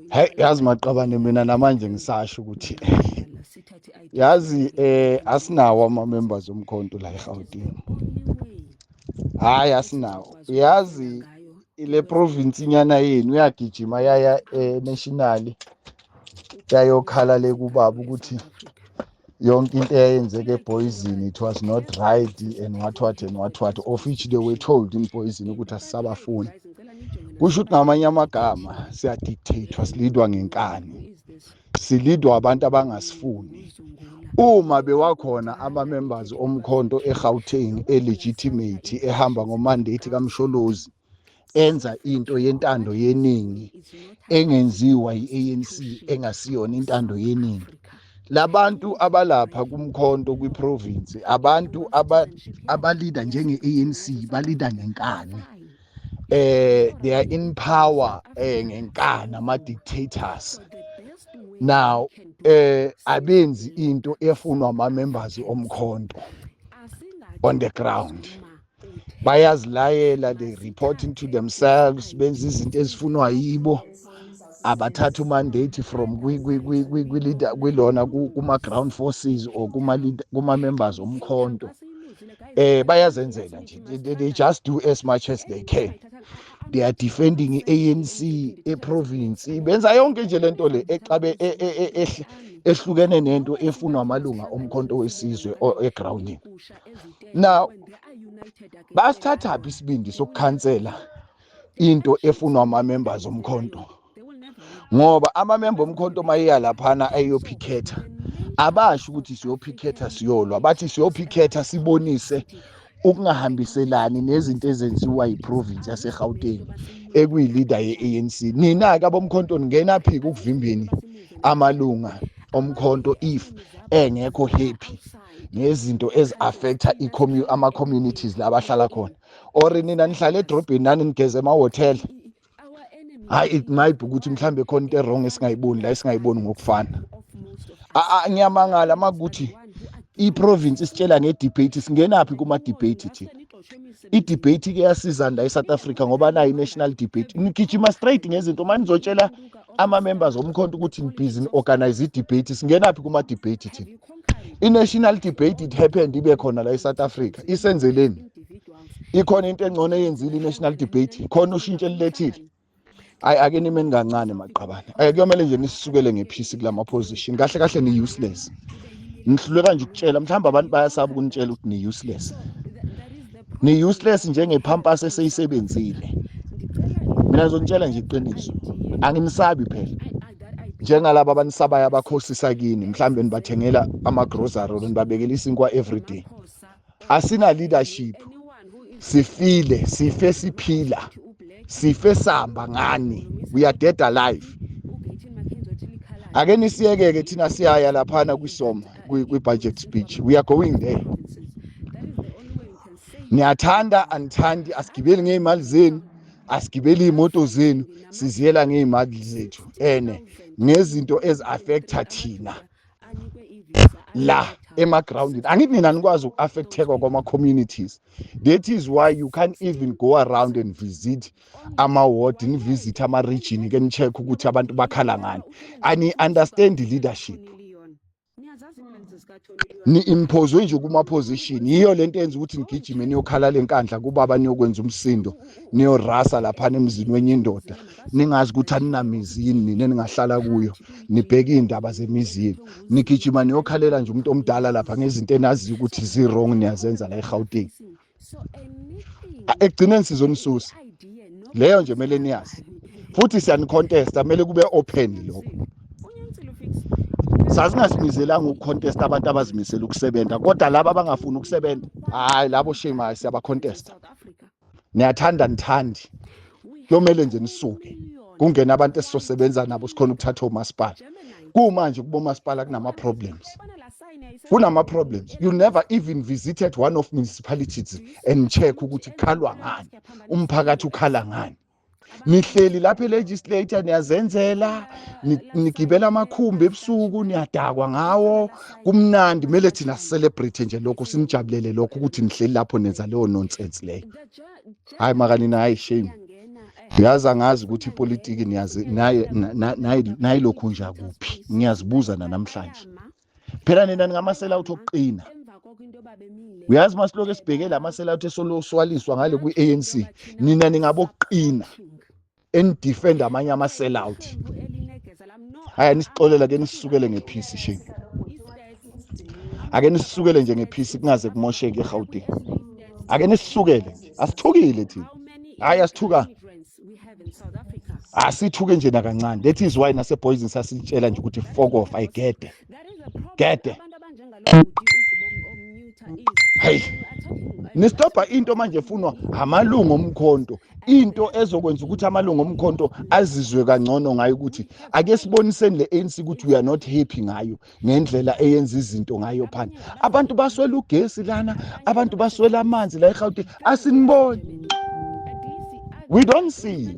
hayi yazi maqabane mina namanje ngisasho ukuthi yazi eh asinawo ama members omkhonto la eGauteng hayi asinawo yazi ile province inyana yenu uyagijima yaya eh national yayokhala le kubaba ukuthi yonke into eyayenzeka eboyizini it was not right and what what and what what of which they were told in boyizini ukuthi asisabafuni kusho ukuthi ngamanye amagama siyadictatwa silidwa ngenkani silidwa abantu abangasifuni uma bewakhona ama-members omkhonto egauteng elegitimate ehamba ngomandate kamsholozi enza into yentando yeningi engenziwa yi-ANC engasiyona intando yeningi labantu abalapha kumkhonto kwiprovince abantu abalida njenge-ANC balida ngenkani eh they are in power eh ngenkani ama dictators now eh abenzi into efunwa ama members omkhonto on the ground bayazilayela they report into themselves benza izinto ezifunwa yibo abathatha umandate from kwilona kuma-ground forces or kuma-members omkhonto eh bayazenzela nje they just do as much as they can they are defending i-anc eprovince benza yonke nje lento le exabe e, e, e, ehlukene nento efunwa amalunga omkhonto wesizwe egroundini now basithatha phi isibindi sokukhansela into efunwa ama members omkhonto ngoba ama member omkhonto mayeya laphana ayophikhetha abasho ukuthi siyophikhetha siyolwa bathi siyophikhetha sibonise ukungahambiselani nezinto ezenziwa yiprovince yaseGauteng ekuyileader ye-ANC nina-ke abomkhonto ningena phi kukuvimbeni amalunga omkhonto if engekho happy ngezinto ezi-affecta ama-communities la bahlala khona or nina nihlala edrobheni nani nigeze emahhotela hhayi it might be ukuthi mhlawumbe khona into erong esingayiboni la esingayiboni ngokufana ngiyamangala uma kuthi i-province isitshela nge-debate singenaphi kuma-debate thina i-debate ke yasizani la e-south africa ngoba nayo i-national debate nigijima straight ngezinto uma nizotshela ama-members omkhonto ukuthi ngibhizi ni-organize i-debate singenaphi kuma-debate thina i-national debate it happened ibe khona la e-south africa isenzeleni ikhona into engcono eyenzile i-national debate khona ushintsho elilethile ayi ake nimeni kancane maqabane ayi kuyomele nje nisisukele ngephisi kula ma-position kahle kahle ni-useless ngihluleka nje ukutshela mhlawumbe abantu bayasaba ukunitshela ukuthi ni-useless ni useless njenge pampers eseyisebenzile mina ngizonitshela nje iqiniso anginisabi phela njengalabo abanisabayo abakhosisa kini mhlawumbe nibathengela ama-grocery or nibabekela isinkwa everyday asina-leadership sifile sife siphila sife samba ngani we are dead alive ake nisiyeke-ke thina siyaya laphana kwisoma kwi-budget speech we are going there niyathanda anithandi asigibeli ngey'mali zenu asigibeli iy'moto zenu siziyela ngey'mali zethu ene ngezinto ezi-affektha thina la emagroundini angithi nina nikwazi uku-affektheka kwama-communities that is why you can't even go around and visit ama-ward nivisit ama-region ke ni-check ukuthi abantu bakhala ngani ani-understand leadership ni-impose nje kuma-position yiyo le nto yenza ukuthi nigijime niyokhala le nkandla kubaba niyokwenza umsindo niyorasa laphana emzini wenye indoda ningazi ukuthi aninamizi yini nina ningahlala kuyo nibheke iy'ndaba zemizini nigijima niyokhalela nje umuntu omdala lapha ngezinto enaziyo ukuthi zi-wrong niyazenza la egauteng ekugcineni sizonisusa leyo nje kumele niyazi futhi siyanikontesta kumele kube open lokho sasingazimizelanga ukucontesta abantu abazimisela ukusebenza kodwa laba abangafuni ukusebenza hayi labo shame hayi siyabacontesta niyathanda nithandi Yomele nje nisuke kungena abantu esizosebenza nabo sikhona ukuthatha omasipala. Kumanje kubo masipala kunama problems. Kunama problems. You never even visited one of municipalities and check ukuthi kukhalwa ngani. Umphakathi ukhala ngani. nihleli lapha elegislator niyazenzela nigibela amakhumbi ebusuku niyadakwa ngawo kumnandi kumele thina celebrate nje lokho sinijabulele lokho ukuthi nihleli lapho nenza leyo nonsense leyo hayi makanina hayi shame ngiyazi angazi ukuthi ipolitiki niyazi nayilokhu nja kuphi ngiyazibuza nanamhlanje phela nina ningamasela uthi okuqina uyazi masiloku esibhekele amasela uthi esoloswaliswa ngale kwi-anc nina ningabokuqina enidefend amanye ama sell out haya nisixolela ke nisisukele ngephisi shame ake nisisukele nje ngephisi kungaze kumosheke eGauteng ake nisisukele nje asithukile thina hayi asithuka asithuke nje nakancane that is why nase poison sasitshela nje ukuthi fokof ayigede gede hayi nistobha into manje efunwa amalungu omkhonto into ezokwenza ukuthi amalungu omkhonto azizwe kangcono ngayo ukuthi ake siboniseni le ANC ukuthi we are not happy ngayo ngendlela eyenza izinto ngayo phansi abantu baswela ugesi lana abantu baswela amanzi la eGauteng asiniboni we don't see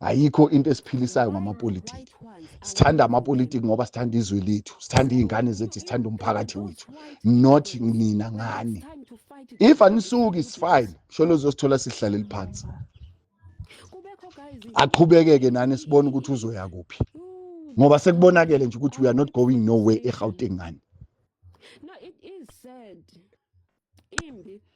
ayikho into esiphilisayo ngamapolitiki sithanda amapolitiki ngoba sithanda izwe lethu sithanda iy'ngane zethu sithanda umphakathi wethu not nina ngani if anisuki is fine sholo uzosithola sihlaleli phansi aqhubekeke nani sibone ukuthi uzoya kuphi ngoba sekubonakele nje ukuthi we are not going nowhere egauteng ngani